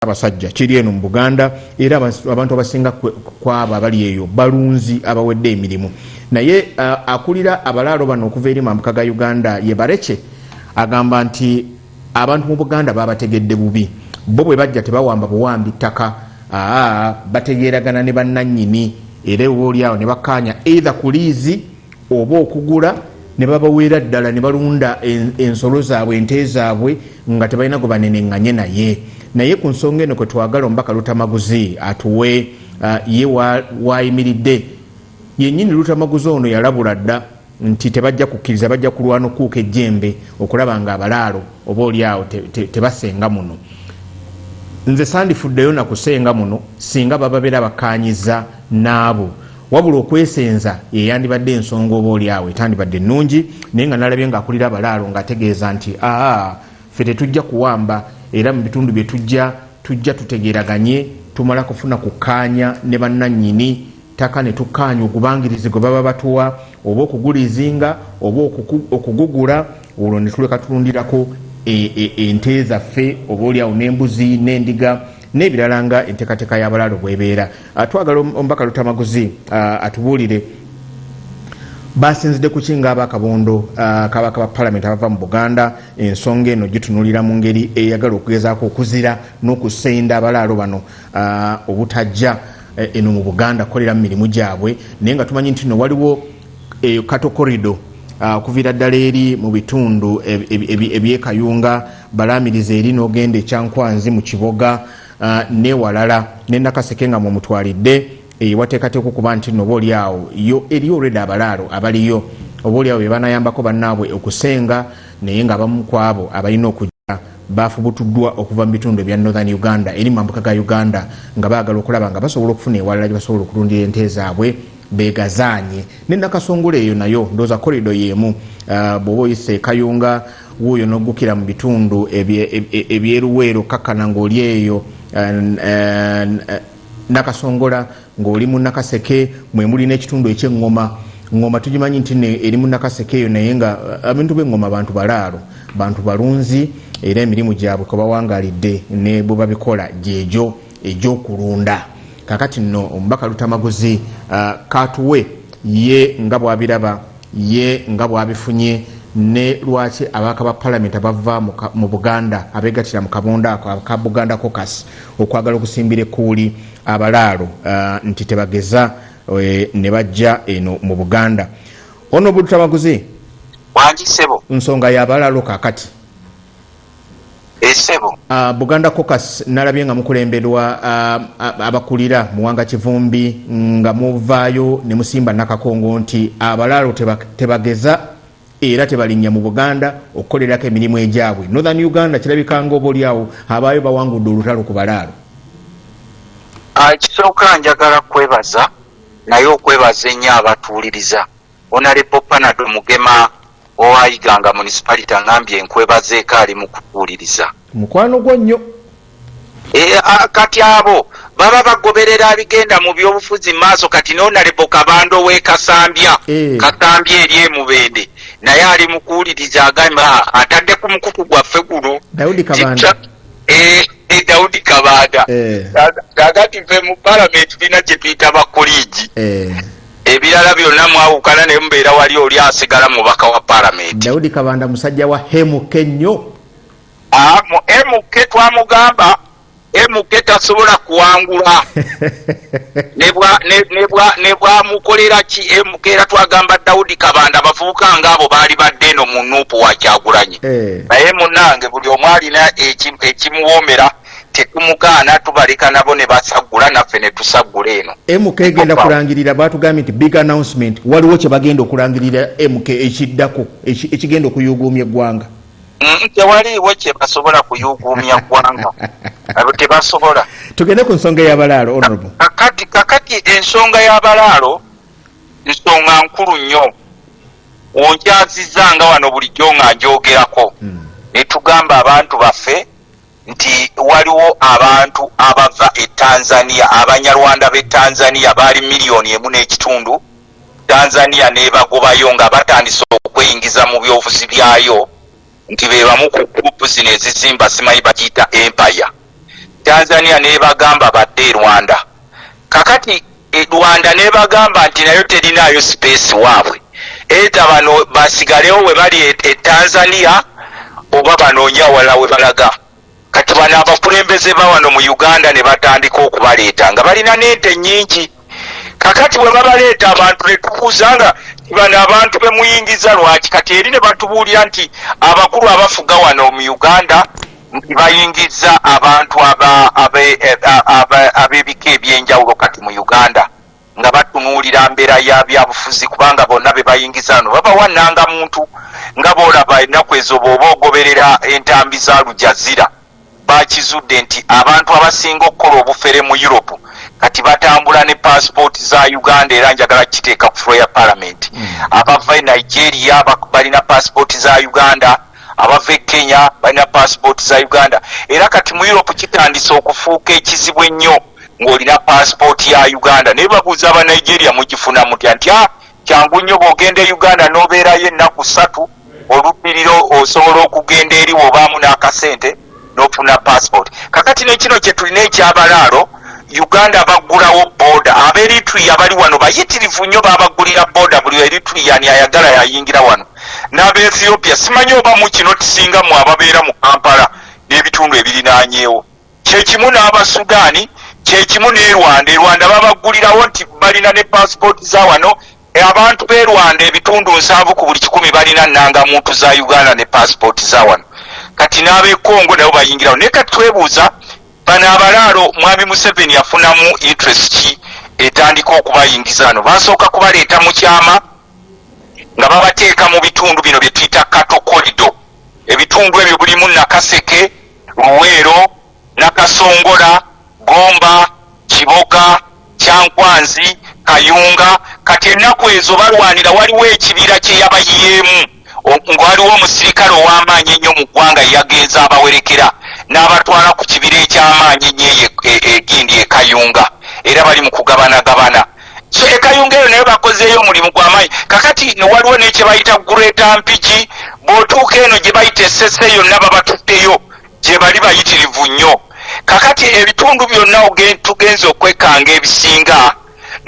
Ssaabasajja kiri eno mu Buganda era abantu abasinga kwabo abali eyo balunzi abawedde emirimu naye akulira abalaalo bano okuva eri mambuka ga Uganda ye Barekye agamba nti abantu mu Buganda babategedde bubi bo bwe bajja tebawamba buwambi ttaka aa bategeeragana ne bannannyini era ewoolyawo ne bakkaanya eitha ku liizi oba okugula ne babaweera ddala ne balunda ensolo zaabwe ente zaabwe nga tebalina gwe banenenganye naye naye ku nsonga eno kwe twagala omubaka lutamaguzi atuwe uh, ye waayimiridde wa yennyini lutamaguzi ono yalabula dda nti tebajja kukkiriza bajja kulwana okuuka ejjembe okulaba nga abalaalo oba oli awo tebasenga te, te muno nze sandifuddeyo nakusenga muno singa bababeera bakkaanyiza n'abo wabula okwesenza yeyandibadde ensonga oba oli awo etandibadde ennungi naye nga nalabye nga akulira abalaalo ngaategeeza nti aa fe tetujja kuwamba era mu bitundu bye tujja tujja tutegeraganye tumala kufuna kukkaanya ne bannannyini ttaka ne tukkaanya ogubangirizi gwe baba batuwa oba okugulizinga oba okugugula olwo ne tuleka tulundirako e, e, ente zaffe oba oliawo n'embuzi n'endiga n'ebirala nga enteekateeka y'abalaalo bwebeera ah, twagala omubaka lutamaguzi ah, atubuulire basinzidde kuki nga abakabondo ah, kabaka ba palamenti abava mu buganda ensonga eno gitunulira mu ngeri eyagala okugezaako okuzira n'okusenda abalaalo bano obutajja eh, eno mu buganda kukolera mu mirimu gyabwe naye nga tumanyi nti no waliwo eh, katokorido okuviira ddala eri mu bitundu ebyekayunga balaamiriza eri n'ogenda e kyankwanzi mu kiboga ah, newalala ne nakaseke nga mwemutwalidde eyo eh, wateekateeka okuba nti noba oli awo yo eri olwedde abalaalo abaliyo oba oli awo be banayambako bannaabwe okusenga naye nga abamu ku abo abalina okujja baafubutuddwa okuva mu bitundu ebya northern uganda eri mu mambuka ga uganda nga baagala okulaba nga basobola okufuna ewalala gye basobola okulundira ente zaabwe begazaanye ne nakasongole eyo nayo ndooza korido yeemu ah, bw'oba oyise kayunga wuuyo n'oggukira mu bitundu ebyeruweero kakkana ng'oli eyo nakasongola ng'oli mu nakaseke mwe muli n'ekitundu ekyeŋŋoma ŋŋoma tugimanyi nti eri mu nakaseke eyo naye nga abintu b'eŋŋoma bantu balaalo bantu balunzi era emirimu gyabwe kwebawangalidde ne bwe babikola gyegyo egyokulunda kakati nno omubaka lutamaguzi katuwe ye nga bwabiraba ye nga bwabifunye ne lwaki ababaka ba palamenti abava mu buganda abegatira mu kabunda ako aka buganda cocas okwagala okusimbira ekkuuli abalaalo uh, nti tebageza eh, ne bajja eno mu buganda ono obudutamaguzi nsonga yabalaalo kakati esebo eh, ah, buganda cocus nalabye nga mukulemberwa ah, ah, abakulira muwanga kivumbi nga muvaayo ne musimba nakakongo nti abalaalo tebageza era tebalinnya mu buganda okukolerako emirimu egyabwe northern uganda kirabikanga oba olyawo abaayo bawangudde olutalo ku balaalo kisooka njagala kwebaza naye okwebaza ennyo abatuwuliriza Honalebo Panado Mugema owa Iganga Municipality angambye enkwebaza ekaali mu kutuwuliriza. Mukwano gwo nnyo. Eh, ah, kati abo baba bagoberera abigenda mu byobufuzi maaso kati nonalebo kabando wekasambya eh. kasambya eri emubende naye ali mukuwuliriza agamba ah, atadde ku mukutu gwaffe guno daudi kabanda eh, agati fe mu palamenti tulina kyetuyita bakolegi Ebirala byonna mwawukana naye mubeera wali oli asigala mubaka wa palamenti. Daudi Kabanda musajja wa MK nnyo. Ah, mu MK twamugamba MK tasobola kuwangula nebwamukolera ki MK era twagamba Daudi Kabanda abavubuka ngaabo baali badde eno mu nuupu wakyagulanyi eh. naye munange buli omu alina ekimuwoomera tetumugaana tubaleka nabo ne basaggula naffe ne tusaggula eno mk egenda kulangirira baatugambye nti big announcement waliwo kye bagenda okulangirira mk ekiddako ekigenda okuyuuguumya eggwanga mm, tewaliiwo kye basobola kuyuuguumya ggwanga tebasobola tugende ku nsonga ey'abalaalo honorable kakati kakati ensonga y'abalaalo nsonga nkulu nnyo onkyazizza nga wano bulijjo nga njogerako hmm. ne tugamba abantu baffe nti waliwo abantu abava e Tanzania abanyarwanda b'e Tanzania baali miliyoni emu n'ekitundu Tanzania n'ebagobayo nga batandise okweyingiza mu byobufuzi byayo nti be bamu ku group zino ezizimba simanyi bagiyita empire Tanzania n'ebagamba badde e Rwanda kakati e Rwanda nebagamba nti nayo terinaayo space waabwe either bano basigalewo webali e, e Tanzania oba banoonya wala webalaga kati bano abakulembeze bawano mu Uganda nebatandika okubaleeta nga balina n'ente nyingi kakati bwe babaleeta abantu ne tubuuza nga bano abantu be muyingiza lwaki kati eri ne batubuulira nti abakulu abafuga wano mu Uganda nti bayingizza abantu ab'ebika eby'enjawulo kati mu Uganda nga batunuulira mbeera ya byabufuzi kubanga bonna be bayingiza wano babawa nnangamuntu nga boolaba ennaku ezo bw'oba ogoberera entambi za Lujazira bakizudde nti abantu abasinga okukola obufere mu Europe kati batambula ne paasipooti za Uganda era njagala kukiteeka ku fulo ya palamenti hmm. abava e Nigeria balina paasipooti za Uganda mm. abava e kenya balina paasipooti za uganda era kati mu europe kitandise okufuuka ekizibu ennyo ng'olina paasipooti ya uganda naye babuuza aba nigeria mugifuna mutya nti a ah, kyangu nnyo bw'ogenda e uganda n'obeerayo ennaku ssatu olubbiriro osobola okugenda eri w'obaamu n'akasente nofuna passport kakati nekino kyetulina ekyabalaalo uganda baggulawo boda aberitria bali wano bayitirivu nnyo babagulira boda buli eritriani ayagala yayingira wano n'abaethiopia simanyi oba mukino tisinga mu ababeera mu kampala n'ebitundu ebirinanyeewo kyekimu n'abasudaani kyekimu ne rwanda erwanda babaggulirawo nti balina ne passport za wano Abantu b'e Rwanda ebitundu nsanvu ku buli kikumi balina nnangamuntu za Uganda ne paasipooti za wano. Kati n'ab'e Congo nabo bayingirawo. Naye kati twebuuza bano abalaalo Mwami Museveni yafunamu interest ki etandika okubayingiza wano? Basooka kubaleeta mu kyama nga babateeka mu bitundu bino bye tuyita cattle corridor. Ebitundu ebyo bulimu Nakaseke, Luweero, Nakasongola, Gomba, Kiboga, Kyankwanzi, Kayunga kati ennaku ezo balwanira waliwo ekibira kye yabayiyeemu nga waliwo omusirikale ow'amaanyi ennyo mu ggwanga eyagenze abawerekera n'abatwala ku kibira eky'amaanyi ennyo eyo e, e, egindi e Kayunga era bali mu kugabanagabana so e Kayunga eyo naye bakozeeyo omulimu gw'amaanyi kakati waliwo ne kye bayita Greater Mpigi bw'otuuka eno gye bayita esese yonna babatutteyo gyebali bayitirivu nnyo kakati ebitundu byonna tugenze okwekanga ebisinga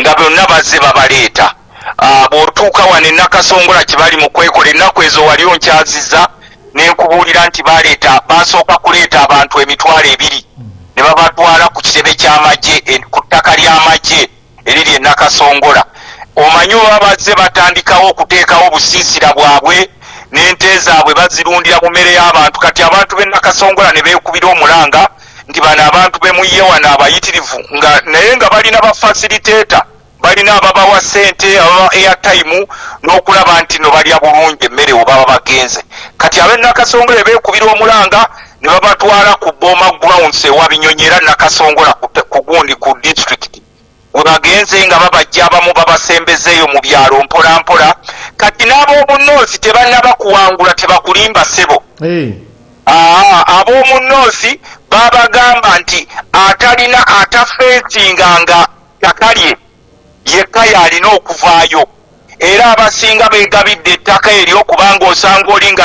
nga byonna bazze babaleeta ah, bwotuuka wano enakasongola kyebali mu kwekola ennaku ezo wali onkyaziza nenkubuulira nti baleeta basooka kuleeta abantu emitwalo ebiri ne babatwala ku kitebe ky'amagye ku ttaka ly'amagye eriri e Nakasongola omanyi oba bazze batandikawo okuteekawo obusiisira bwabwe n'ente zaabwe bazirundira mu mmere y'abantu kati abantu b'e Nakasongola ne beekubira omulanga nti bano abantu be muyye wano abayitirivu nga naye nga balina ba facilitator balina ababawa sente ababa airtime n'okulaba nti no balya bulungi emmere webaba bagenze kati ab'e Nakasongola beekubira omulanga ne babatwala ku Boma Grounds ewa Binyonyi era Nakasongola ku gundi ku disitulikiti we bagenze nga babajja abamu babasembezeeyo mu byalo mpolampola kati n'ab'omunnoosi tebannaba kuwangula tebakulimba ssebo ab'omunnoosi babagamba nti atalina atafeesinga nga takalye yekka y'alina okuvaayo era abasinga beegabidde ettaka eryo kubanga osanga oli nga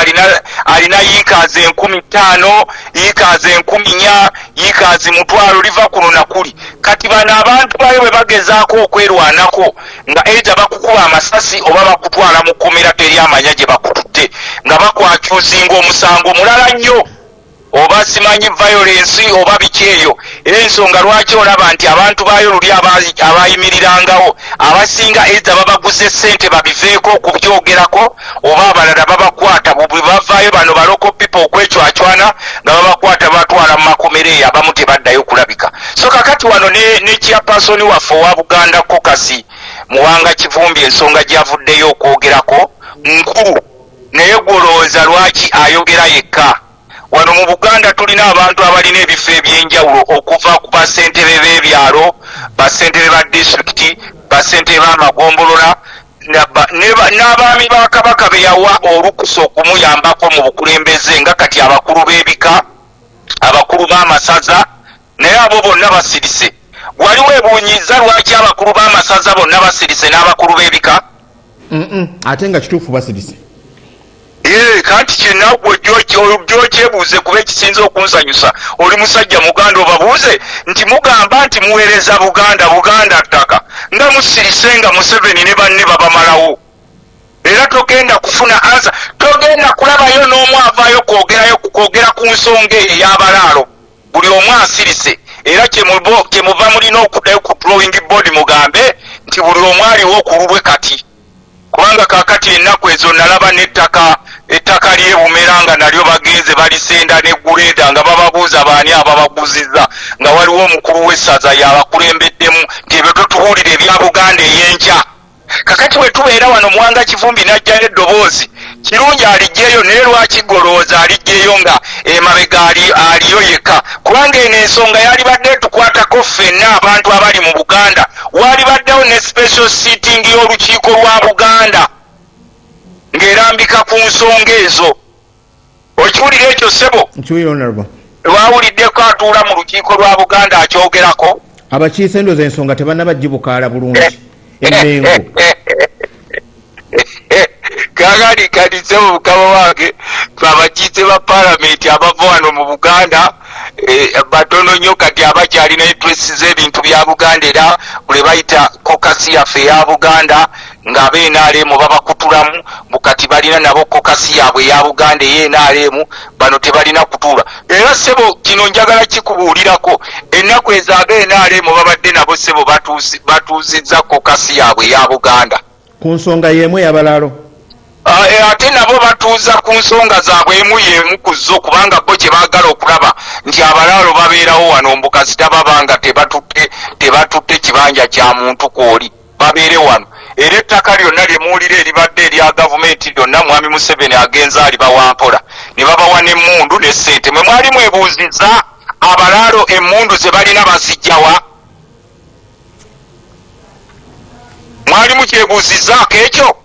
alina yiikaazi enkumi ttaano yiikaazi enkumi nya yiikaazi mutwalo liva kuno nakuli kati bano abantu bayo bwe bagezaako okwerwanako nga eita bakukuba amasasi oba bakutwala mu kkomera teri amanya gye bakututte nga bakwakyuzinga omusango mulala nnyo oba simanyi violence oba biki eyo ensonga lwaki olaba nti abantu baayo luli abayimirirangawo abasinga eitha babaguze sente babiveeko okubyogerako oba abalala babakwata bwebavaayo bano baloko pipo okwecwacwana nga babakwata batwala mu makomero eyo abamu tebaddayo kulabika so kakati wano ne chairpersoni waffe owa buganda kokasi muwanga kivumbi ensonga gyavuddeyo okwogerako nkulu Naye gwe olowooza lwaki ayogera yekka? Wano mu Buganda tulina abantu abalina ebifo eby'enjawulo okuva ku ba ssentebe b'ebyalo, ba ssentebe ba disitulikiti, ba ssentebe b'amagombolola n'abaami ba Kabaka be yawa olukusa okumuyambako mu bukulembeze nga kati abakulu b'ebika, abakulu b'amasaza Naye abo bonna basirise. Wali webuunyiizza lwaki abakulu b'amasaza bonna basirise n'abakulu b'ebika? Ate nga kituufu basirise. Ee, kanti kyenaggwe gyokyebuuze kuba ekisinza okunsanyusa oli musajja muganda obabuuze nti mugamba nti muweereza Buganda, Buganda ttaka nga musirise nga Museveni ne banne babamalawo. Era togenda kufuna ansa, togenda kulabayo n'omu avaayo kwogerayo kwogera ku nsonga eyo ey'abalaalo. Buli omu asirise era kyemuva mulina okudayo ku drawing board mugambe nti buli omu aliwo kululwe kati kubanga kakati enaku ezo nalaba netaka ettaka lyebumera nga nalyo bagenze balisenda ne guleeda nga bababuuza baani ababaguziza nga waliwo omukulu w'essaza yabakulembeddemu nti ebyo totubuulira ebya buganda eyenkya kakati bwe tubeera wano muwanga kivumbi n'ajjayo eddoboozi kirungi alijjeyo naye lwaki golowooza alijjeyo nga emabega aliyo yekka kubanga eno ensonga yalibadde etukwatako ffenna abantu abali mu buganda walibaddewo ne special sitting y'olukiiko lwa buganda ng'erambika ku nsonga ezo okiwulira ekyo ssebo lwawuliddeko atuula mu lukiiko lwa buganda akyogerako abakiise endoza ensonga tebanaba gibukaala bulungi emengo kakali kalize omukama wange abakiise ba palamenti abava wano mu buganda eh, batono nnyo kati abakyalina epresi z'ebintu bya buganda era buli bayita kokasi yaffe eya buganda nga abe nrm babakutulamu bukati balina nabo kokasi yabwe eya buganda eye nrm bano tebalina kutuula era sebo kino njagala kikubuulirako ennaku ezo abe nrm babadde nabo sebo batuuzizza kokasi yabwe eya buganda ku nsonga yemu yabalaalo ah, eh, ate nabo batuuza ku nsonga zaabwe emu yemu ku zo kubanga bo kye baagala okulaba nti abalaalo babeerawo wano mbukasita baba nga tebatutte tebatutte kibanja kya muntu kwoli babeere wano era ettaka lyonna lye muwulira eribadde erya gavumenti lyonna mwami museveni agenza alibawampola ne babawa n'emmundu ne ssente mwe mwali mwebuuziza abalaalo emmundu ze balina bazijjawa mwali mukyebuuzizaako ekyo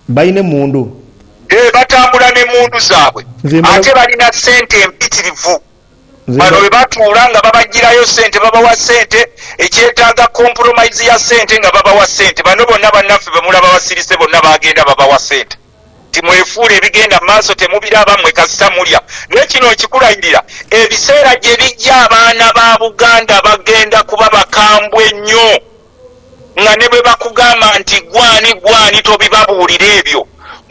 balina emmundu eh, batambula n'emmundu zaabwe ate balina ssente empitirivu Bano bwe batuula nga babaggyirayo ssente, babawa ssente, ekyetaaga compromise ya ssente nga babawa ssente. Bano bonna bannaffe be mulaba basirise bonna bagenda babawa ssente nti mwefuule ebigenda mu maaso temubiraba mmwe kasita mulya. Naye kino nkikulagirira ebiseera gye bijja abaana ba Buganda bagenda kuba bakambwe nnyo. nga ne bwe bakugamba nti gwani gwani tobibabuulira ebyo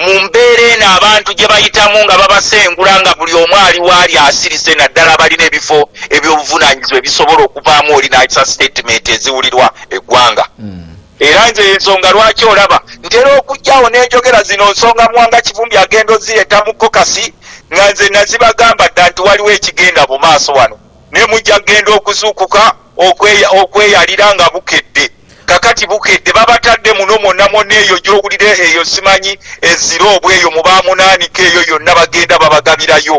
mu mbeera eno abantu gye bayitamu nga babasengula nga buli omu ali waali asirise naddala abalina ebifo eby'obuvunaanyizibwa ebisobola okuvaamu oli n'akisa sitatimenti eziwulirwa eggwanga hmm. era nze ensonga lwaki olaba ntera okugyawo n'enjogera zino nsonga muwanga kivumbi agenda ozireta mu kokasi nga nze nazibagamba dda nti waliwo ekigenda mu maaso wano ne mujja kugenda okuzuukuka okweyalira nga bukedde kakati bukedde babatadde muno mwonna mwonna eyo gyowulire eyo simanyi ezira obw eyo mubamunaanika eyo yonna bagenda babagabirayo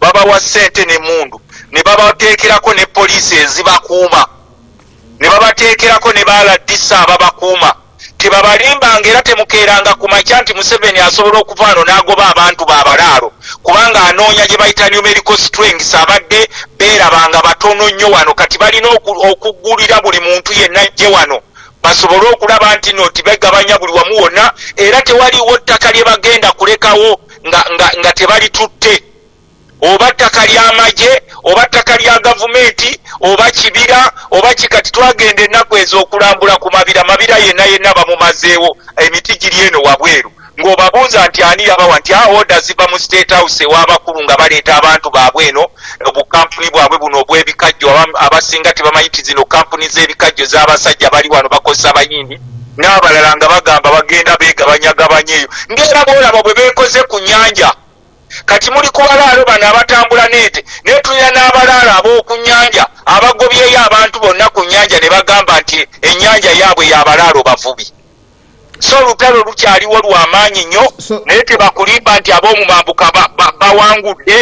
babawa ssente ne mundu ne babateekerako ne poliisi ezibakuuma ne babateekerako ne ba rdc ababakuuma tebabalimbanga era temukeeranga ku makya nti museveni asobola okuvaano n'agoba abantu ba balaalo kubanga anoonya gye bayita numerical strengths abadde beerabanga batono nnyo wano kati balina okugulira buli muntu yenna jje wano basobole okulaba nti no tibegabanya buli wamu wonna era tewaliwo ttaka lye bagenda kulekawo nga, nga, nga tebalitutte oba ttaka ly'amagye oba ttaka lya gavumenti oba kibira oba ki kati twagenda ennaku ezo okulambula ku mabira mabira yenna yenna bamumazeewo emiti giri eno wabweru ng'obabuuza nti ani yabawa nti a oda ziva mu state house ew'abakulu nga baleeta abantu baabwe eno obukampuni bwabwe buno obw'ebikajjo abasinga tebamanyi ti zino kampuni z'ebikajjo z'abasajja bali wano bakozesa abayindi n'abalala nga bagamba bagenda beegabanyagabanya eyo ng'era boolaba bwe beekoze ku nyanja kati muli ku balaalo bano abatambula n'ente naye tulina n'abalaalo ab'oku nnyanja abagobyeyo abantu bonna ku nnyanja ne bagamba nti ennyanja yaabwe y'abalaalo bavubi so olutalo lukyaliwo lwa maanyi nnyo naye tebakulimba nti ab'omu mambuka bawangudde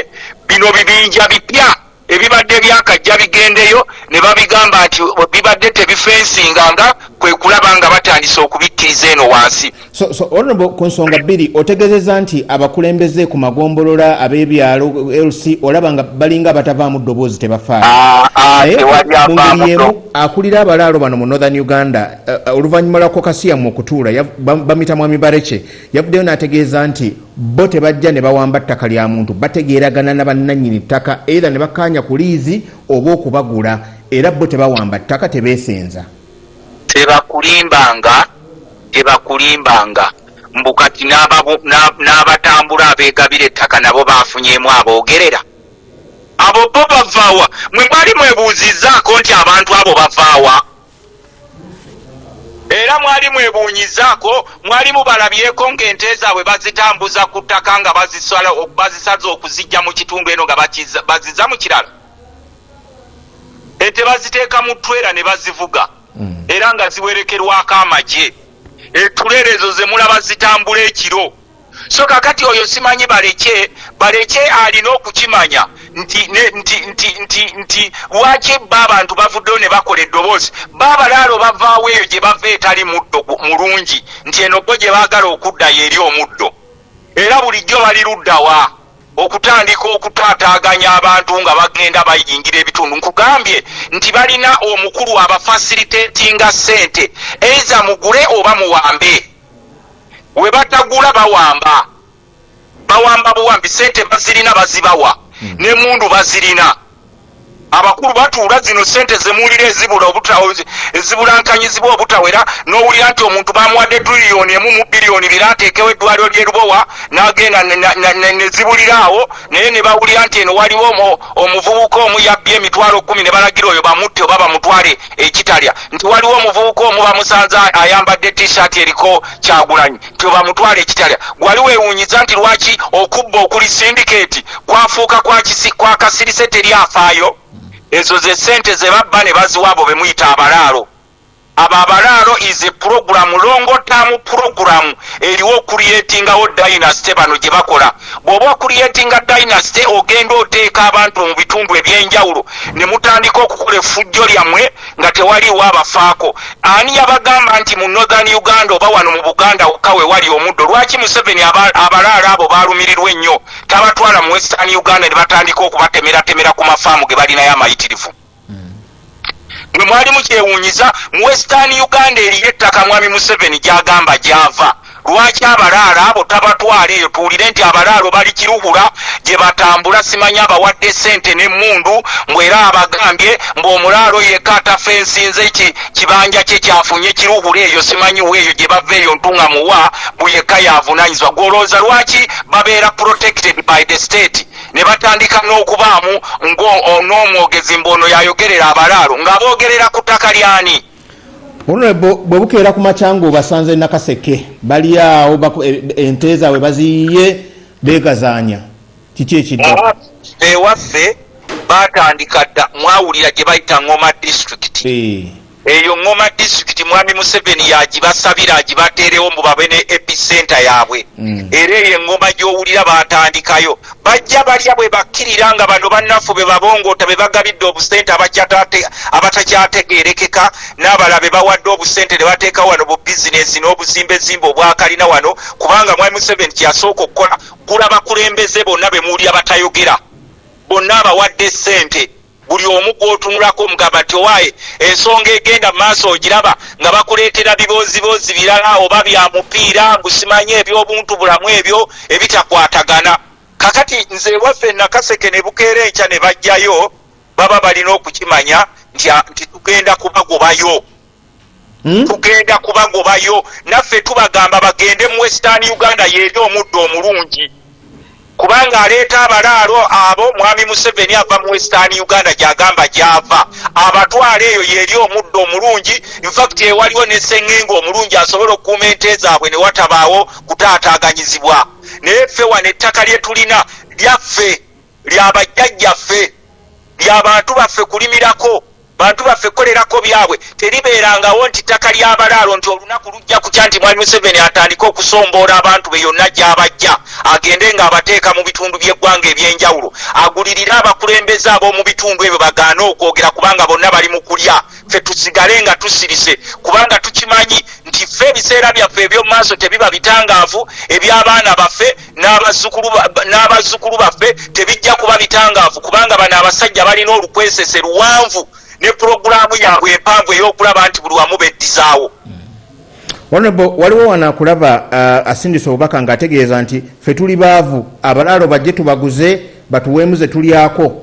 bino bibinja bipya Ebibadde byakajja bigendeyo ne babigamba nti bibadde tebifensinga nga kwe kulaba nga batandise okubikkiriza eno wansi. So, so, honorable ku nsonga bbiri otegezeza nti abakulembeze ku magombolola ab'ebyalo LC olaba nga balinga abatavaamu ddoboozi tebafaayo ah, ah, naye mu ngeri emu akulira abalaalo bano mu northern uganda eh, eh, oluvannyuma lwa kokasiyamu okutuula bamita mwami barece Yavuddeyo n'ategeeza nti bo tebajja ne bawamba ttaka lya muntu, bategeeragana na bannannyini ttaka either ne bakkaanya ku liizi oba okubagula era bo tebawamba ttaka, tebeesenza. Tebakulimbanga, tebakulimbanga mbu kati n'abatambula abeegabira ettaka nabo baafunyeemu aboogerera? Abo bo bavaawa? Mwe mwali mwebuuzizzaako nti abantu abo bavaawa? era mwali mwebunyizaako mwali mubalabyeko ng'ente zaabwe bazitambuza ku ttaka nga bazisaza okuzijja mu kitundu eno nga baziza mu kirala ente baziteeka mu twera ne bazivuga mm. era nga ziwerekerwako amagye etuleero ezo ze mulaba zitambula ekiro so kakati oyo simanyi balekye balekye alina okukimanya nti nti nti nti nti lwaki ba abantu bavuddeyo ne bakola eddoboozi ba abalaalo bavaawo eyo gye bava etali muddo mulungi nti eno gwo gye baagala okuddayo eri omuddo era bulijjo bali luddawa okutandika okutaataaganya abantu nga bagenda bayingira ebitundu nkugambye nti balina omukulu abafasilitetinga ssente eiza mugule oba muwambe webatagula bawamba bawamba buwambi sente bazirina bazibawa hmm. nemundu bazirina abakulu batuula zino sente zemuwulira ezibula ezibulankanyizibwa obutawera nowulira nti omuntu bamuwadde tuliyoni emu mu biliyoni bira ateekewo eddwaliro lyerubowa nagenda nezibulira awo naye nebawulira nti eno waliwo omuvubuka omu yabbye emitwalo kumi nebalagira oyo bamutte oba bamutwale ekitalya nti waliwo omuvubuka omu bamusanze ayambadde t-shirt eriko kyagulanyi nti obamutwala ekitalya gwali wewunyiza nti lwaki okubba okuli sindiketi kwafuuka kwakasirise teri afaayo ezo ze sente zebabba ne baziwaabo bemuyita abalaalo abo abalaalo is a program longotamu program eriwo okuliyetingawo dynasty bano gye bakola bw'oba okuliyetinga dynasty ogenda oteeka abantu mu bitundu ebyenjawulo ne mutandika okukola effujjo lyammwe nga tewaliiwo abafaako ani yabagamba nti mu northern uganda oba wano mu buganda wokka we wali omuddo lwaki museveni abalaalo abo baalumirirwa ennyo tabatwala mu western uganda ne batandika okubatemeratemera ku mafaamu ge balinayo amayitirivu mwe mwali mukyewunyiza mu western uganda eriyo ettaka mwami museveni gyagamba gyava lwaki abalaalo abo tabatwala eyo tuwulire nti abalaalo bali kiruhura gye batambula simanyi abawadde sente n'emmundu mbwera abagambye ng'omulaalo yekka atafa ensinze ki kibanja kye kyafunye kiruhura eyo simanyi weeyo gye bava eyo ntunga muwa buyekka yavunanyizibwa gwolowooza lwaki babeera protected by the state ne batandika n'okubaamu n'omwogezi mbu ono yayogerera abalaalo nga boogerera ku ttaka lyani bwe bukeera ku makyanga obasanze nakaseke bali awo e, ente zaabwe baziyiye beegazaanya kiki ekidda ewaffe baatandika dda mwawulira gye bayita ngoma disitulikiti eh. Eyo Ngoma district mwami Museveni yagibasabira agibateerewo mbu babe ne epicenter yaabwe mm. era eyo engoma gy'owulira baatandikayo bajja balya bwe bakkirira nga bano bannaffe be babongoota be bagabidde obusente abatakyategeerekeka n'abala be bawadde obusente ne bateeka wano bu bizinesi n'obuzimbezimba obwakalina wano kubanga mwami Museveni kyeyasooka okukola gula bakulembeze bonna be muwulira batayogera bonna abawadde ssente buli omu gwotunulako omugamba nti owaye ensonga egenda maaso ogiraba nga bakuleetera bibooziboozi birala oba bya mupiira gusimanye ebyobuntu bulamu ebyo ebitakwatagana kakati nze ewaffe nakaseke ne bukeera enkya ne bajjayo baba balina okukimanya nti tugenda kubagobayo Hmm? tugenda kubagobayo naffe tubagamba bagende mu western uganda yeeri omuddo omulungi kubanga aleeta abalaalo abo mwami museveni ava mu western uganda gyagamba gyava abatwala eyo yeeri omuddo omulungi infact ewaliwo nesengenga omulungi asobola okukuuma ente zaabwe ne watabaawo kutaataaganyizibwa naye ffe wano ettaka lye tulina lyaffe lya bajjajjaffe, lya bantu baffe kulimirako, bantu baffe kukolerako byabwe, teribeerangawo nti ttaka lya balaalo nti olunaku lujja kukya nti Mwami Museveni atandike okusomboora abantu be yonna gy'abajja agende ng'abateeka mu bitundu by'eggwanga eby'enjawulo agulirire abakulembeze ab'omu bitundu ebyo bagaane okwogera kubanga bonna bali mu kulya ffe tusigale nga tusirise kubanga tukimanyi nti ffe ebiseera byaffe eby'omu maaso tebiba bitangaavu eby'abaana baffe n'abazzukulu baffe tebijja kuba bitangaavu kubanga bano abasajja balina olukwesese luwanvu ne pulogulaamu yaabwe empanvu ey'okulaba nti buli wamu beddizaawo Honorable waliwo wana kulaba uh, asindisa obubaka nga ategeeza nti fe tuli baavu abalaalo bajje tubaguze batuweemuze tulyako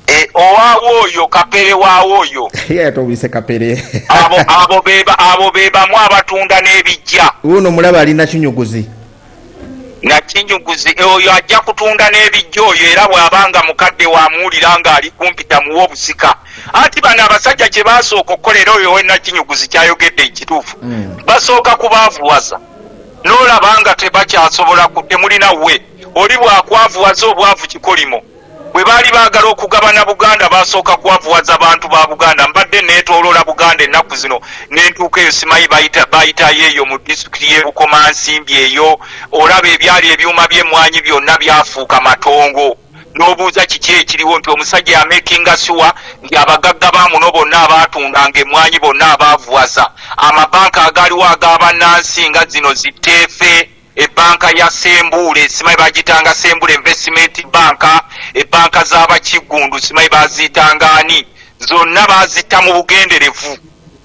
Eh, owaawo oyo kapere waawo oyo yatobise kapere abo abo beba abo bebamu abatunda n'ebijja uno mulaba ali nakinyuguzi nakinyuguzi eh, oyo ajja kutunda n'ebijja oyo era bw'aba nga mukadde wamuwulira ng'ali kumpi tamuwa obusika anti bano abasajja kye basooka okukola era oyo wenakinyuguzi kyayogedde ekituufu mm. basooka kubaavuwaza n'olaba nga tebakyasobola temulina we oli bwakwavuwaza obwavu kikolimo Bwe baali baagala okugabana Buganda baasooka kwavuwaza bantu ba Buganda. Mbadde neetooloola Buganda ennaku zino ne ntuuka eyo simanyi bayitayo eyo mu disitulikiti y'e Bukomansimbi eyo olaba ebyali ebyuma by'emmwanyi byonna byafuuka matongo n'obuuza kiki ekiriwo nti omusajja yamekinga siwa nti abagagga ba muno bonna abaatundanga emmwanyi bonna abaavuwaza amabanka agaaliwo ag'abannansi nga zino zitteefe Ebbanka ya Ssembuule simanyi bagiyitanga Ssembuule Investment Bank, ebbanka z'Abakiggundu simanyi baaziyitanga ani, zonna baazitta mu bugenderevu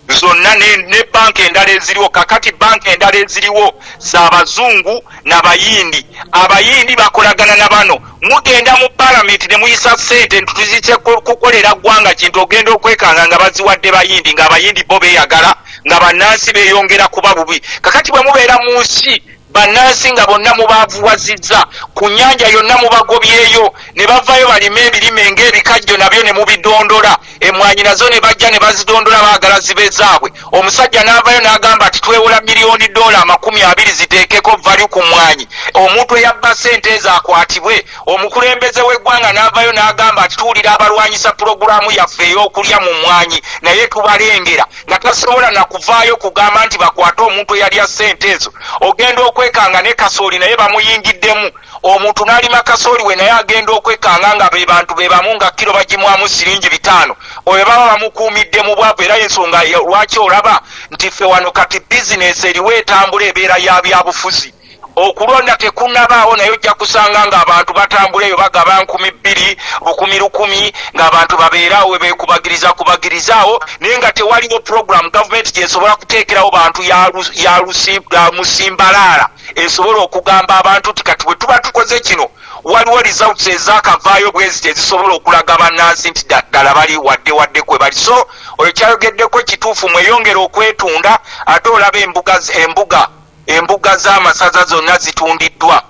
zonna ne, ne banka endala eziriwo kakati banka endala eziriwo za bazungu na bayindi abayindi bakolagana na bano mugenda mu palamenti ne muyisa ssente ntutuzitse kukolera ggwanga kintu ogenda okwekanga nga baziwadde bayindi nga abayindi bo beeyagala nga bannansi beeyongera kuba bubi kakati bwe mubeera mu nsi bannansi nga bonna mubaavuwazizza ku nnyanja yonna mubagobyeyo ne bavayo balima ebirime ng'ebikajjo nabyo ne mubidondola emwanyi nazo ne bajja ne bazidondola baagala zibe zaabwe omusajja n'avayo n'agamba nti twewola miliyoni doola amakumi abiri ziteekeko valyu ku mwanyi omuntu eyabba sente ezo akwatibwe omukulembeze w'eggwanga n'avayo n'agamba nti tuwulira abalwanyisa pulogulaamu yaffe ey'okulya mu mwanyi naye tubalengera nga tasobola na kuvaayo kugamba nti bakwate omuntu eyalya sente ezo ogenda okwekanga ne kasooli naye bamuyingiddemu omuntu nalima kasooli we naye agenda okwekanga nga be bantu be bamu nga kiro bagimwamu siringi bitaano oyo baba bamukuumidde mu bwavu era ensonga lwaki olaba nti ffe wano kati bizinesi eriwo etambula ebeera ya byabufuzi okulonda tekunabaawo naye ojja kusanga ng'abantu batambula eyo bagaba nkumi bbiri lukumi lukumi ng'abantu babeeraawo we beekubagiriza kubagirizaawo naye nga tewaliwo pulogulaamu gavumenti gyesobola kuteekerawo bantu ya musimbalaala esobola okugamba abantu nti kati bwe tuba tukoze kino waliwo results ezakavaayo bweziti ezisobola okulaga bannansi nti ddala bali wadde wadde kwe bali so oyo kyayogeddeko kituufu mweyongera okwetunda ate olaba embuga embuga embuga z'amasaza zonna zitundiddwa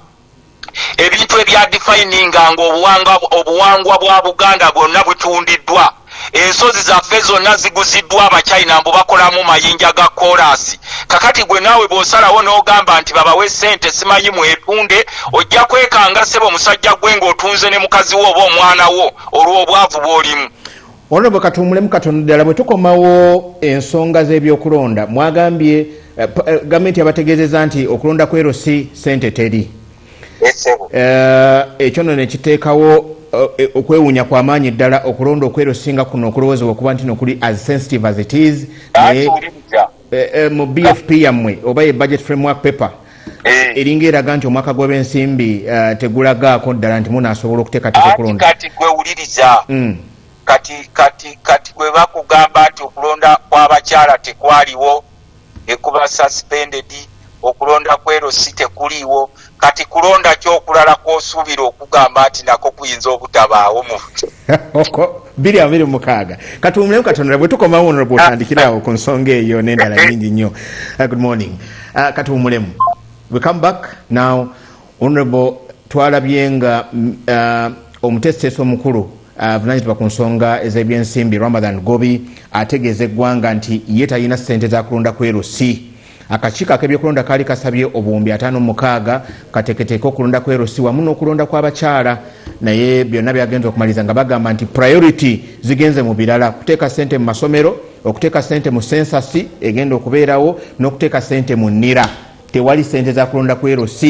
ebintu ebya defininga nga obuwangwa bwa buganda bwonna butundiddwa Ensozi zaffe zonna ziguziddwa Abachina mbu bakolamu mayinja ga koolaasi. Kakati gwe naawe bw'osalawo n'ogamba nti babawe ssente simanyi mwetunde, ojja kwekanga ssebo musajja gwe ng'otunze ne mukazi wo oba omwana wo olw'obwavu bw'olimu. Ono bwe katuumulemu katono ddala bwe tukomawo ensonga z'ebyokulonda mwagambye eh, eh, gavumenti yabategeezeza nti okulonda kwerosi ssente teri. Eh, ekyo no nekiteekawo eh, eh, okwewuunya kwa maanyi ddala okulonda okwero singa kuno okulowoozebwa okuba nti nokuli as sensitive as it is mu bfp yammwe oba ye budget framework paper eringa eraga nti omwaka gw'abensimbi tegulagaako ddala nti munaasobola okuteekateeka okulonda kati gwewuliriza mm. kati kati kati gwe bakugamba nti okulonda kw'abakyala tekwaliwo ekuba suspended okulonda kwero si tekuliiwo kati kulonda ki okulala kwosuubira okugamba nti nako kuyinza obutabaawo mu biri abiri mukaaga katuwumulemu katonda bwe tukomawo ono bwotandikiraawo ku nsonga eyo n'endala nyingi nnyo uh, good morning uh, katuwumulemu we come back now Honorable twalabye nga uh, omuteesiteesi omukulu avunanyizibwa ku nsonga ez'ebyensimbi Ramadan Gobi ategeeza eggwanga nti ye talina ssente za kulonda kwerusi akakiiko ak'ebyokulonda kaali kasabye obuwumbi ataano mukaaga kateeketeeke okulonda kwerusi wamu n'okulonda kw'abakyala naye byonna byagenza okumaliriza nga bagamba nti priority zigenze mu birala kuteeka ssente mu masomero okuteeka ssente mu sensasi egenda okubeerawo n'okuteeka ssente mu nira tewali sente zakulonda ku LC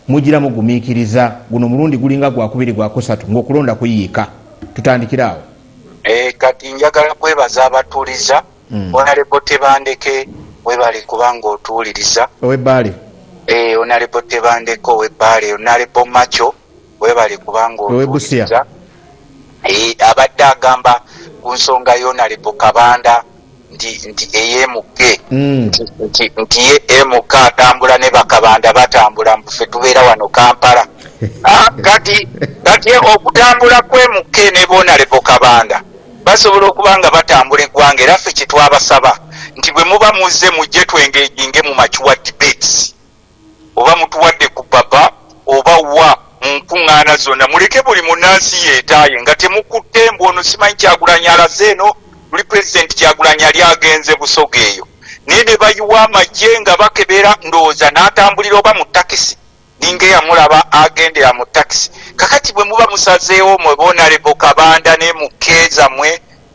mujira mugumikiriza guno mulundi gulinga gwakubiri gwakusatu ngaokulonda kuyiika tutandikira awo e, kati njagala kwebaza abatuliza mm. onalebo tebandeke webale kubanga otuwuliriza owebaale e, eh, onalebo tebandeke owebaale onalebo maco webale kubanga otuwuliriza eh, abadde agamba ku nsonga yonalebo kabanda nti nti eyemuke mm. nti ye emuka atambula ne bakabanda batambula mbufe tubeera wano kampala ah, kati kati okutambula kwemuke ne bonalebo kabanda basobola okuba nga batambula eggwanga era ffe kyetwabasaba nti bwe muba muzze mujje twengejinge mu makiwa debates oba mutuwadde ku baba oba wa mu nkuŋŋaana zonna muleke buli munnansi yeetaaye nga temukutte mbu ono simanyi kyagulanyi alaze eno luli pulezidenti kyagulanyi yali agenze busoga eyo naye ne bayiwa amagye nga bakebera ndowooza n'atambulira oba mu takisi ninga eyamulaba agendera mu takisi kakati bwe muba musazeewo mwe bonalebo kabanda ne mukkeeza mwe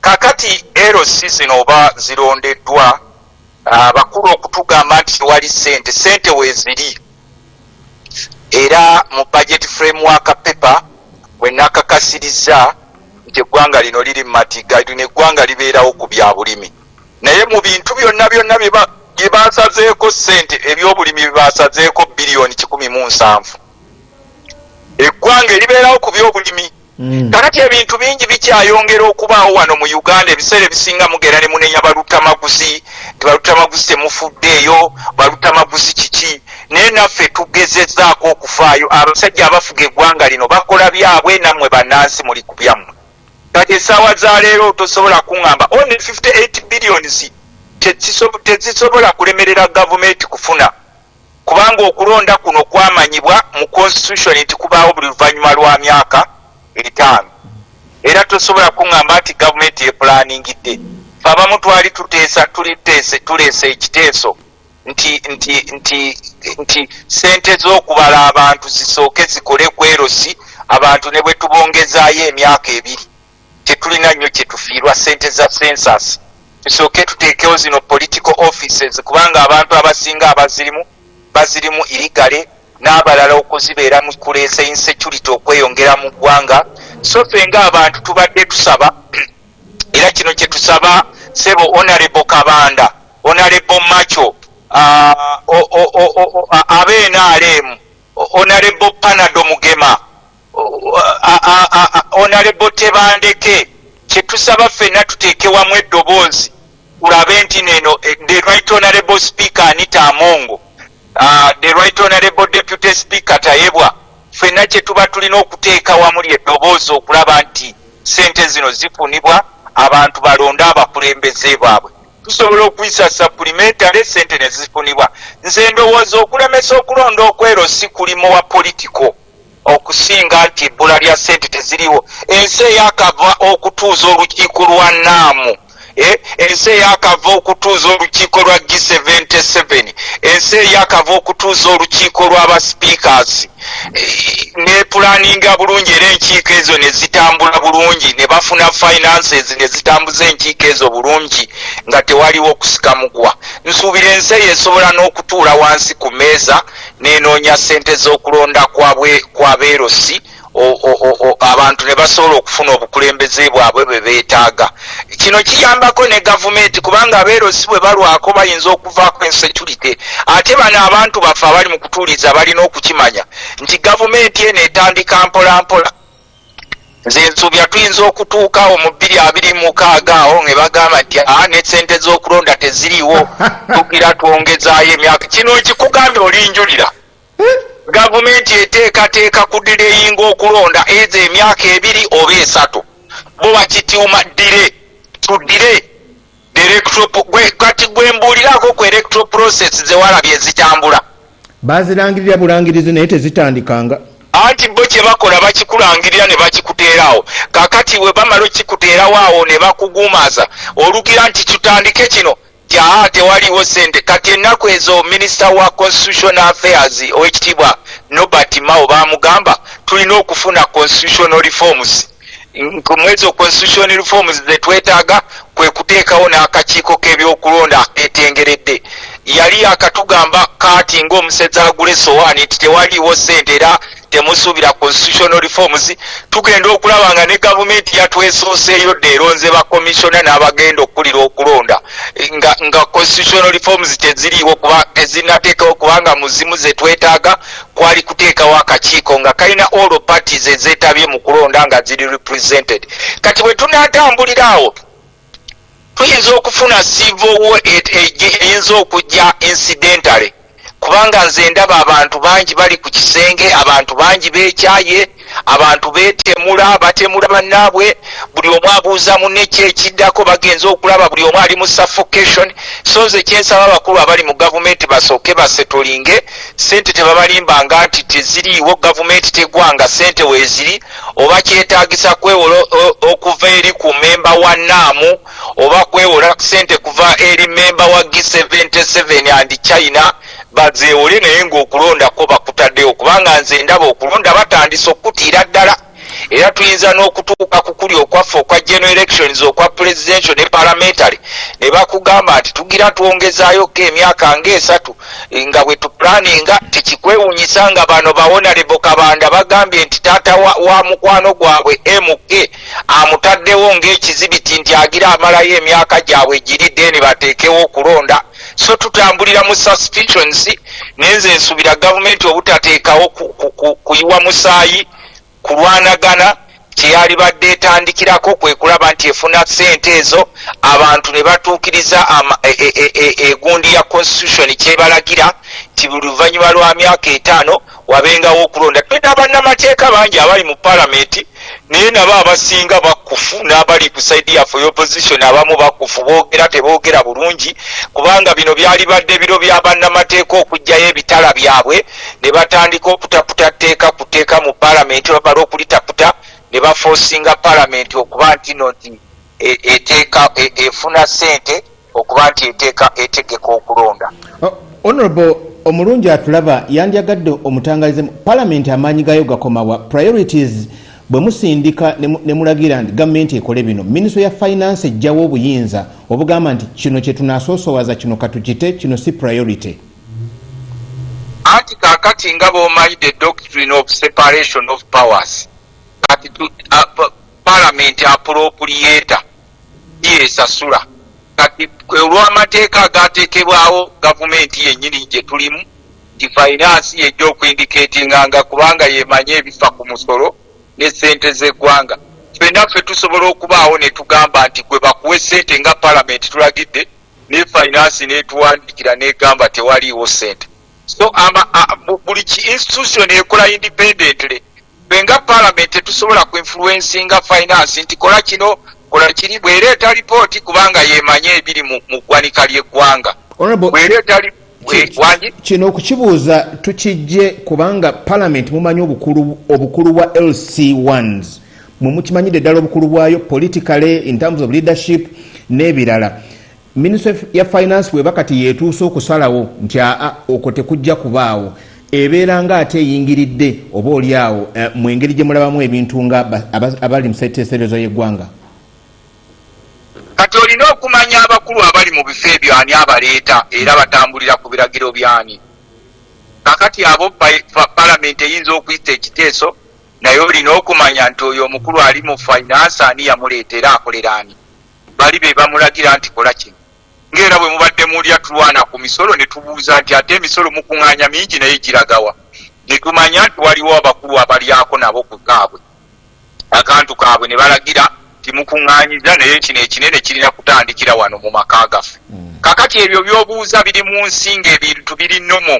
Kakati LC zino oba zirondeddwa abakulu ah, okutugamba nti tewali sente, sente weziri era mu budget framework paper wenakakasirizza nti eggwanga lino liri mu matiga lino eggwanga libeerawo ku bya bulimi naye mu bintu byonna byonna bye basazeeko sente ebyobulimi bye basazeeko biliyoni kikumi mu nsanvu eggwanga eribeerawo ku byobulimi Mm. kakati ebintu bingi bikyayongera okubaawo wano mu uganda ebiseera ebisinga mugera ne munenya balutamaguzi nti balutamaguzi temufuddeeyo balutamaguzi kiki naye naffe tugezezaako okufaayo abasajja abafuga eggwanga lino bakola byabwe nammwe bannansi muli ku byammwe kati essaawa za leero tosobola kuŋŋamba one 58 billions tezisobola kulemerera gavumenti kufuna kubanga okulonda kuno kwamanyibwa mu constitution nti kubaawo buli luvannyuma lwa myaka etaano era tosobola kuŋŋamba nti gavumenti epulaaningidde fe abamu twali tuteesa tuliteese tuleese ekiteeso nti nti nti nti ssente z'okubala abantu zisooke zikole kwerosi abantu ne bwe tubongezaayo emyaka ebiri tetulina nnyo kyetufiirwa sente za census tusooke tuteekewo zino political offices kubanga abantu abasinga abazirimu bazirimu irigale n'abalala okuzibeera mu kuleesa insecurity okweyongera mu ggwanga so fe nga abantu tubadde tusaba era kino kye tusaba sebo onarebo kabanda onarebo macho abeenaaleemu onarebo panado mugema onalebo tebandeke kyetusaba fenna tutekewamu eddoboozi ulabe nti neno eh, the right honorable speaker anita amongo ah, the right honorable deputy speaker tayebwa fenna kyetuba tulina okuteeka wamu lyeddoboozi okulaba nti sente zino zifunibwa abantu balonde abakulembeze baabwe tusobola okuyisa supplementary sente nezifunibwa nze ndowooza okulemesa okulonda okwero si kulimu wa political okusinga nti ebbula lya ssente teziriwo ensi eyakava okutuuza olukiiko lwa naamu eh, ensi eyakava okutuuza olukiiko lwa g77 ensi eyakava okutuuza olukiiko lwabasipikas eh, nepulaninga bulungi era enkiiko ezo nezitambula bulungi nebafuna finances nezitambuza enkiiko ezo bulungi nga tewaliwo kusikamugwa nsuubira ensi eyo esobola n'okutuula wansi ku meeza nenoonya ssente z'okulonda kwa beerosi abantu ne basobola okufuna obukulembeze bwabwe bwe beetaaga kino kiyambako ne gavumenti kubanga abeerosi bwe balwako bayinza okuvaako ensecurite ate bano abantu baffe abali mu kutuuliza balina okukimanya nti gavumenti eno etandika mpolampola nze nsuubira tuyinza okutuuka awo mu bbiri abiri mukaaga awo nge bagamba nti a ah, nesente z'okulonda teziriiwo tugira twongezaayo emyaka kino nkikugambye olinjulira gavumenti eteekateeka ku direyinga okulonda ezo emyaka ebiri oba esatu bo bakitiuma dire tudire kati gwembuuliraako ku electro process zewalabye ezitambula bazirangirira bulangirizi naye tezitandikanga anti bo kye bakola bakikulangirira ne bakikuteerawo kakati we bamala okikuteerawo awo ne bakuguumaaza olugira nti tutandike kino jaa tewaliwo sente kati ennaku ezo minisita wa constitutional affairs owekitiibwa nobert mao bamugamba tulina okufuna constitutional reforms mwezi constitution reforms zetwetaaga kwe kuteekawo n'akakiiko k'ebyokulonda aketengeredde yali akatugamba kaati ng'omusezi agula esowaani nti tewaliiwo ssente era temusuubira constitutional reforms tugenda okulaba nga ne gavumenti yatwesooseeyo dde eronze bakomisiona n'abagenda okukulira okulonda nga, nga constitutional reforms teziriiwo kuba tezinateekawo kubanga muzimu zetwetaaga kwali kuteekawo akakiiko nga kalina all parties ezeetabye mu kulonda nga ziri represented kati bwe tunaatambulira awo tuyinza okufuna civil war e, e, e, eyinza okujja incidentally kubanga nze ndaba abantu bangi bali ku kisenge abantu bangi beekyaye abantu betemula batemula bannaabwe buli omu abuuza munne ki ekiddako bagenze okulaba buli omu ali mu suffocation so nze kyensaba abakulu abali mu gavumenti basooke basetolinge sente tebabalimbanga nti teziriiwo gavumenti tegwanga sente weeziri oba kyetaagisa kwewola okuva eri ku memba wa naamu oba kwewola sente kuva eri memba wa g77 and china bazeewole naye ng'okulonda kwo bakutaddewo kubanga nze ndaba okulonda batandise okukutiira ddala era tuyinza n'okutuuka ku kuli okwaffe okwa general elections okwa presidential ne parliamentary ne bakugamba nti tugira twongezayoko emyaka ngaesatu nga bwe tuplaninga tikikwewunyisa nga bano bawonalebo kabanda bagambye nti taata wa, wa mukwano gwabwe mk amutaddewo ng'ekizibiti nti agira amalayo emyaka gyabwe giri deni bateekewo okulonda so tutambulira mu suspicions nenze nsubira gavumenti obutateekawo kuyiwa musaayi kulwanagana kyeyalibadde etandikirako kwe kulaba nti efuna sente ezo abantu ne batuukiriza e, e, e, egundi ya constitution kyebalagira nti buli luvannyuma lwa myaka etaano wabengawo okulonda. Tulina bannamateeka bangi abali mu palamenti naye nabo abasinga bakkufu n'abali ku saidi yaffe y'opposition abamu bakkufu boogera teboogera bulungi kubanga bino byalibadde biro bya bannamateeka okugyayo ebitala byabwe ne batandika okutaputa tteeka ku tteeka mu palamenti bamala okulitaputa ne bafoosinga palamenti okuba ntino nti e, eteeka e, efuna ssente okuba nti eteeka etegeka okulonda oh, honorable omulungi atulaba yandyagadde omutangalize palamenti amaanyi gayo gakomawa priorities bwe musindika ne mulagira nti gavumenti ekole bino minisitule ya finance ejjawo obuyinza obugamba nti kino kye tunasoosowaza kino katukite kino si priority anti kakati nga bomanyi the doctrine of separation of powers kati palamenti apulopuliyeeta byesasula kati olw'amateeka agaateekebwawo gavumenti yennyini gye tulimu nti fayinaansi y'ejja okuindikeetinganga kubanga y'emanyi ebifa ku musolo ne ssente z'eggwanga ffenna ffe tusobola okubaawo ne tugamba nti gwe bakuwe ssente nga palamenti tulagidde ne fayinaansi n'etuwandiikira n'egamba tewaliiwo ssente so buli ki institution ekola independently fe nga palamenti tetusobola ku influencinga finance nti kola kino kola kiri bwereeta lipooti kubanga yemanye ebiri mu ggwanika ly'eggwanga bwereeta lipooti kino okukibuuza tukijje kubanga parliament mumanyi obukulu bwa lc ones mwemukimanyidde ddala obukulu bwayo politically in terms of leadership n'ebirala Minisitule ya finance bweba kati yeetuuse okusalawo nti aa okwo tekujja kubaawo ebeera nga ate eyingiridde oba oli awo eh, mu engeri gye mulabamu ebintu nga abali mu seteeserezo y'eggwanga kati olina okumanya abakulu abali mu bifo ebyo ani abaleeta era batambulira ku biragiro byani kakati abo palamenti eyinza okuyita ekiteeso naye olina okumanya nti oyo omukulu ali mu finance ani yamuleeta era akolera ani bali be bamulagira nti kola kino ng'era bwe mubadde mulya tulwana ku misolo ne tubuuza nti ate emisolo mukuŋŋaanya mingi naye giragawa ne tumanya nti waliwo abakulu abalyako nabo ku kaabwe akantu kaabwe ne balagira timukuŋŋaanyiza naye kino ekinene kirina kutandikira wano mu maka gaffe hmm. kakati ebyo by'obuuza biri mu nsi ng'ebintu biri nomo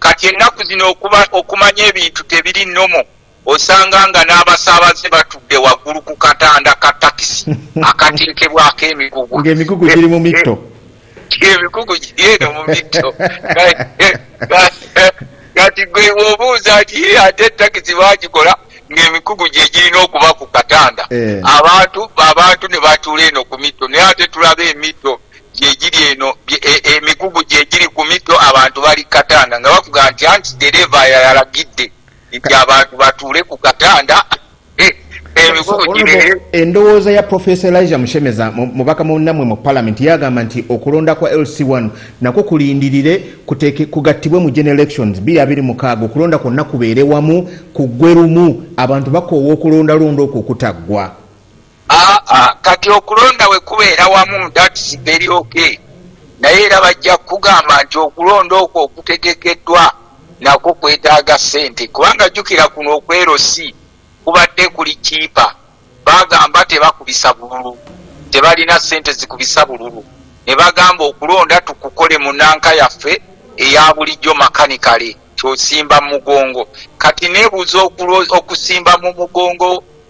kati ennaku zino okumanya ebintu tebiri nomo osanga nga n'abasaabaze batudde waggulu ku katanda ka takisi akateekebwako emigugu ng'emigugu giri mu mitto emigugu giri eno mu mitto kati gwe obuuza nti ate takisi bagikola ng'emikugu gye girina okuba ku katanda eh. abantu abantu ne batuula eno ku mitto naye ate tulaba emitto gyegiri eno e, emikugu gyegiri ku mitto abantu bali katanda nga bakuga nti anti dereva yayalagidde nti abantu batuule ku katanda eh, emigugu gibeere endowooza ya profesa elija mushemeza mubaka munammwe mu palamenti yagamba nti okulonda kwa lc1 nakwo kulindirire kugattibwe mu gen elections 226 okulonda kwonna kubeere wamu kuggwe lumu abantu bakoowa okulondalonda okwo okutaggwa aa ah, ah, kati okulonda wekubeera wamu thats very ok naye era bajja kukugamba nti okulonda okwo okutegekeddwa nakwo kwetaaga sente kubanga jjukira kuno okwerosi kubadde kuli kiipa bagamba tebakubisa bululu tebalina sente zikubisa bululu ne bagamba okulonda tukukole mu nanka yaffe eya bulijjo makanikale kyosimba mu mugongo kati nebuuza okusimba mu mugongo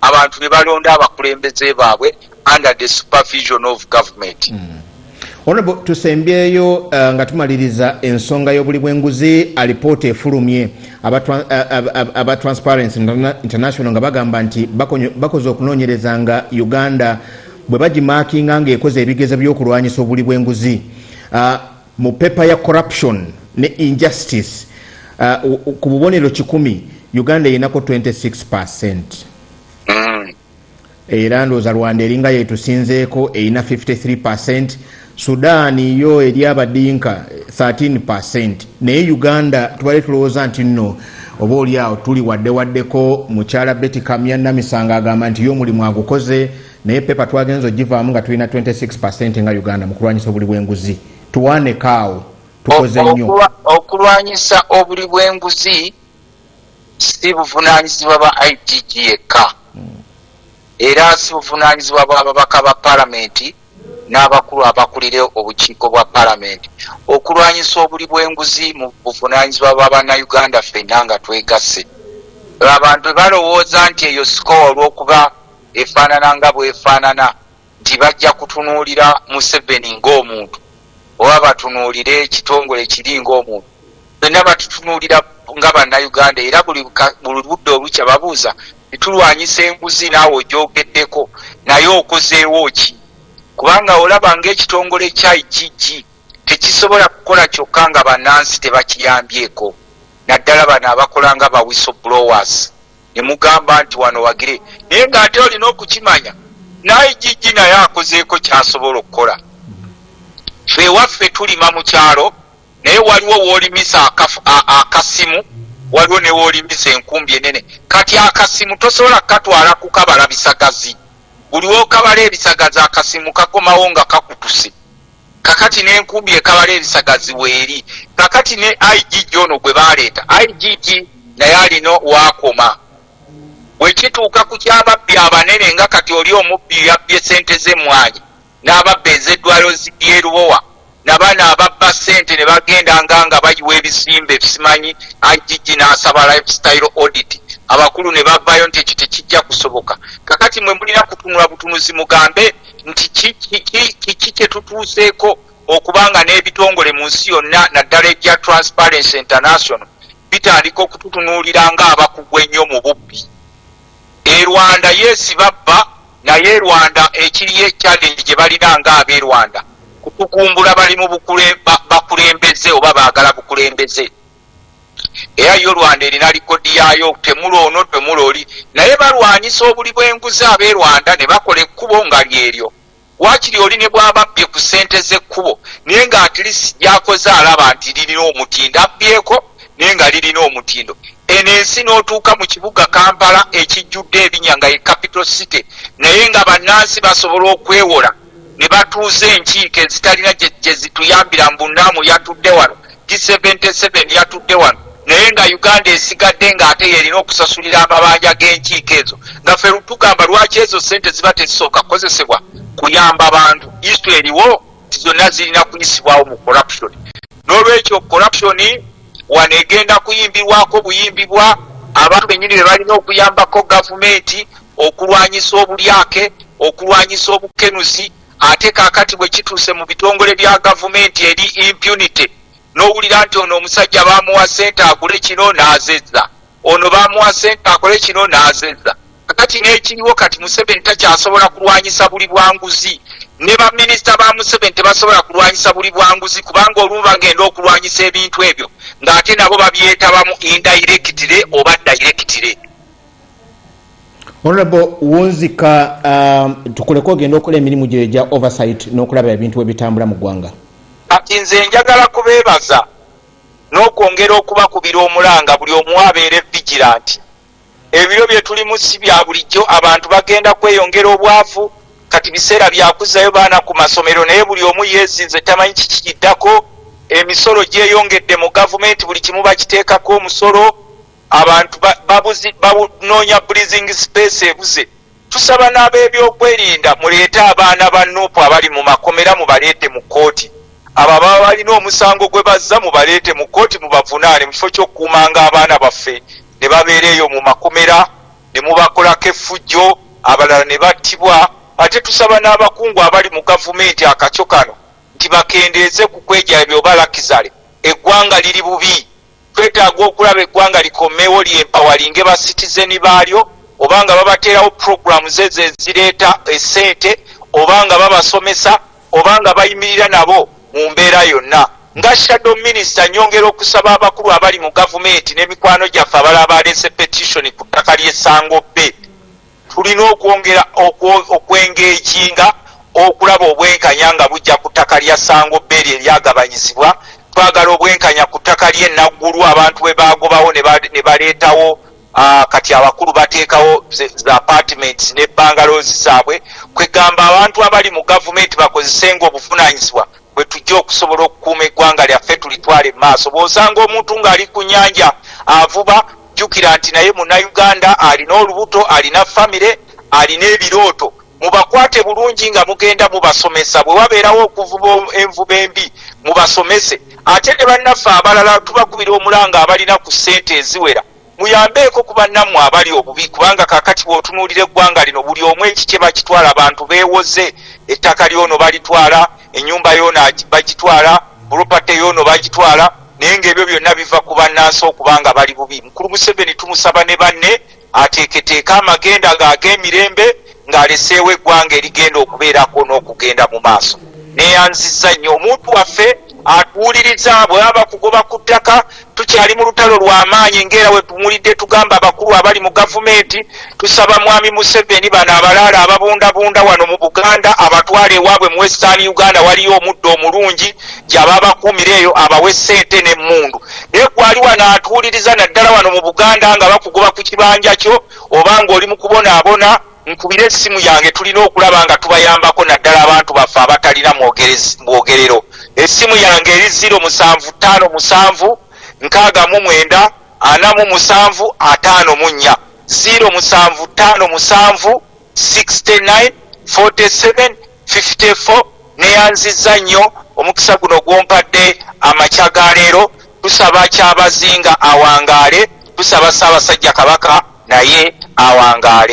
abantu ne balonda abakulembeze baabwe under the supervision of government mm. Honorable tusembyeyo uh, nga tumaliriza ensonga y'obuli bw'enguzi alipoota efulumye aba, uh, aba transparency international nga bagamba nti bakoze okunoonyereza nga uganda bwe bagimakinga ng'ekoze ebigezo by'okulwanyisa obuli bw'enguzi uh, Mu paper ya corruption ne injustice uh, ku bubonero kikumi Uganda eyenako 26 percent mm. era ndooza Rwanda eringa yetusinzeeko erina 53 percent Sudan yo eri abadinka 13 percent naye Uganda tubale tulowooza nti nno oba oli awo tuli wadde waddeko mukyala Betty Kamya Namisanga agamba nti yo omulimu agukoze naye pepa twagenza ogivaamu nga tulina 26 percent nga uganda mu kulwanyisa obuli bwenguzi tuwaaneko awo tukoze nnyo okulwanyisa obuli bwenguzi si buvunanyizibwa ba itg yekka hmm. era si buvunanyizibwa bwababaka ba palamenti n'abakulu abakulira obukiiko bwa palamenti okulwanyisa obuli bwenguzi mu buvunanyizibwa bwa bannayuganda fenna nga twegasse abantu balowooza nti eyo sikowa olwokuba efaanana nga bwefaanana nti bajja kutunuulira museveni ng'omuntu oba batunuulire ekitongole kiri ng'omuntu fenna batutunuulira nga bannayuganda era buli budde olukya babuuza titulwanyisa enguzi naawe ogyogeddeko naye okozeewo ki kubanga olaba ngaekitongole kya igg tekisobola kukola kyokka nga bannansi tebakiyambyeko naddala bano abakola nga bawiso blowers ne mugamba nti wano wagire naye ng'ate olina okukimanya naye gigi naye akozeeko kyasobola okukola fe ewaffe tulima mu kyalo naye waliwo woolimisa akasimu waliwo ne woolimisa enkumbi enene kati akasimu tosobola kukatwala kukabala bisagazi buli wokabala ebisagazi akasimu kakomawo nga kakutuse kakati nenkumbi ekabala ebisagazi weeri kakati ne igg ono gwe baleeta igg naye alina waakoma wekituuka ku kyababbi abanene nga kati oli omubbi yabbye sente z'emmwanyi n'ababba ez'eddwaliro ly'erubowa nabaana ababba sente ne bagenda nga nga bayiwa ebizimbe simanyi igg n'asaba lifestyle audit abakulu ne bavaayo nti ekyo tekijja kusoboka kakati mwe mulina kutunula butunuzi mugambe nti kiki kyetutuuseeko okubanga n'ebitongole mu nsi yonna naddala egya transparency international bitandika okututunuulira nga abakugu ennyo mu bubbi e rwanda yesi babba naye e rwanda ekiriyo ekyalenge gye balina nga ab'e rwanda kutukumbula bali mu bakulembeze oba baagala bukulembeze era yo rwanda erina likodi yaayo temula ono temula oli naye balwanyisa obuli bwenguzi abe rwanda ne bakola ekkubo nga lyeryo wakiri oli ne bwababbye ku sente z'ekkubo naye nga atlist lyakoze alaba nti lirina omutindo abbyeko naye nga lirina omutindo eno ensi n'otuuka mu kibuga kampala ekijjudde ebinya nga ye capital city naye nga bannansi basobola okwewola ne batuuza enkiiko ezitalina gye zituyambira mbu naamu yatudde wano g77 yatudde wano naye nga uganda esigadde ng'ate yerina okusasulira amabanja g'enkiiko ezo nga fe tugamba lwaki ezo sente ziba tezisooka kukozesebwa kuyamba bantu istu eriwo ti zonna zirina kuyisibwawo mu corruption n'olwekyo corruption wano egenda kuyimbirwako buyimbibwa abantu bennyini be balina okuyambako gavumenti okulwanyisa obulyake okulwanyisa obukenuzi ate kakati bwe kituuse mu bitongole bya gavumenti eri impunity n'owulira nti ono omusajja baamuwa ssente agule kino n'azezza ono bamuwa sente akole kino n'azeza kakati n'ekiriwo kati museveni takyasobola kulwanyisa buli bwanguzi ne baminisita ba museveni tebasobola kulwanyisa buli bwanguzi kubanga olumu bagenda okulwanyisa ebintu ebyo ng'ate nabo babyetabamu indairekitire oba dairekitire honorable wunzika um, tukuleka ogenda okola emirimu gyo egya oversight n'okulaba ebintu ebitambula mu ggwanga kati nze njagala kubeebaza n'okwongera okubakubira omulanga buli omu abeere vigilant. Ebiro bye tulimu si bya bulijjo, abantu bagenda kweyongera obwavu, kati biseera bya kuzzayo baana ku masomero naye buli omu yeezinze tamanyi kiki kiddako, emisolo gyeyongedde mu gavumenti buli kimu bakiteekako omusolo, abantu babuzi banoonya breathing space ebuze. Tusaba n'abeebyokwerinda muleete abaana ba Nup abali mu makomera mubaleete mu kkooti. Abo ababa balina omusango gwe bazza mubaleete mu kkooti mubavunaane mu kifo ky'okukuumanga abaana baffe ne babeera eyo mu makomera ne mubakolako effujjo abalala ne battibwa. Ate tusaba n'abakungu abali mu gavumenti akakyo kano nti bakendeeze ku kwegyayabya oba lakizale eggwanga liri bubi. Twetaaga okulaba eggwanga likomewo lyempawalinge ba citizen baalyo oba nga babateerawo programs ezo ezireeta esente oba nga babasomesa oba nga bayimirira nabo mu mbeera yonna. Nga shadow minister nyongera okusaba abakulu abali mu gavumenti ne mikwano gyaffe abalala baleese petition ku ttaka ly'e Sangobbe, Tulina okwongera okwengeejinga okulaba obwenkanya nga bujja ku ttaka lya Ssango Bay lye lyagabanyizibwa. Twagala obwenkanya ku ttaka ly'e Naggulu abantu bwe baagobawo ne baleetawo kati abakulu bateekawo za apartments ne bangalozi zaabwe kwegamba abantu abali mu gavumenti bakozesenga obuvunaanyizibwa bwe tujja okusobola okukuuma eggwanga lyaffe tulitwale mu maaso. Bw'osanga omuntu ng'ali ku nnyanja avuba jjukira nti naye munnayuganda alina olubuto alina famire alina ebirooto mubakwate bulungi nga mugenda mubasomesa bwe wabeerawo okuvuba envuba embi mubasomese ate ne bannaffe abalala tubakubira omulanga abalina ku ssente eziwera muyambeeko ku bannammwe abali obubi kubanga kakati bwotunuulira eggwanga lino buli omu ekikye bakitwala bantu beewoze ettaka lyono balitwala enyumba yono bagitwala pulopate yono bagitwala naye ngaebyo byonna biva ku bannansi okuba nga bali bubi mukulu museveni tumusaba ne banne ateeketeeka amagenda ng'ag'emirembe ng'aleseewo eggwanga erigenda okubeerako n'okugenda mu maaso neyanziza nnyo omuntu waffe atuwuliriza bwaba kugoba ku ttaka tukyali mu lutalo lw'amaanyi ng'era wetumulidde tugamba abakulu abali mu gavumenti tusaba mwami museveni bano abalaala ababundabunda wano mu buganda abatwala ewaabwe mu western uganda waliyo omuddo omulungi gyaba abakuumira eyo abawe ssente n'emmundu naye gwali wano atuwuliriza naddala wano mu buganda nga bakugoba ku kibanja kyo oba ng'oli mu kubonaabona nkubire essimu yange tulina okulaba nga tubayambako naddala abantu baffe abatalina mwogerero essimu yange eri ziro musanvu ttaano musanvu nkaaga mu mwenda ana mu musanvu ataano mu nnya ziro musanvu ttaano musanvu 69 47 54 neyanzizza nnyo omukisa guno gwompadde amakya ga leero tusaba kyabazinga awangaale tusaba ssaabasajja kabaka naye awangaale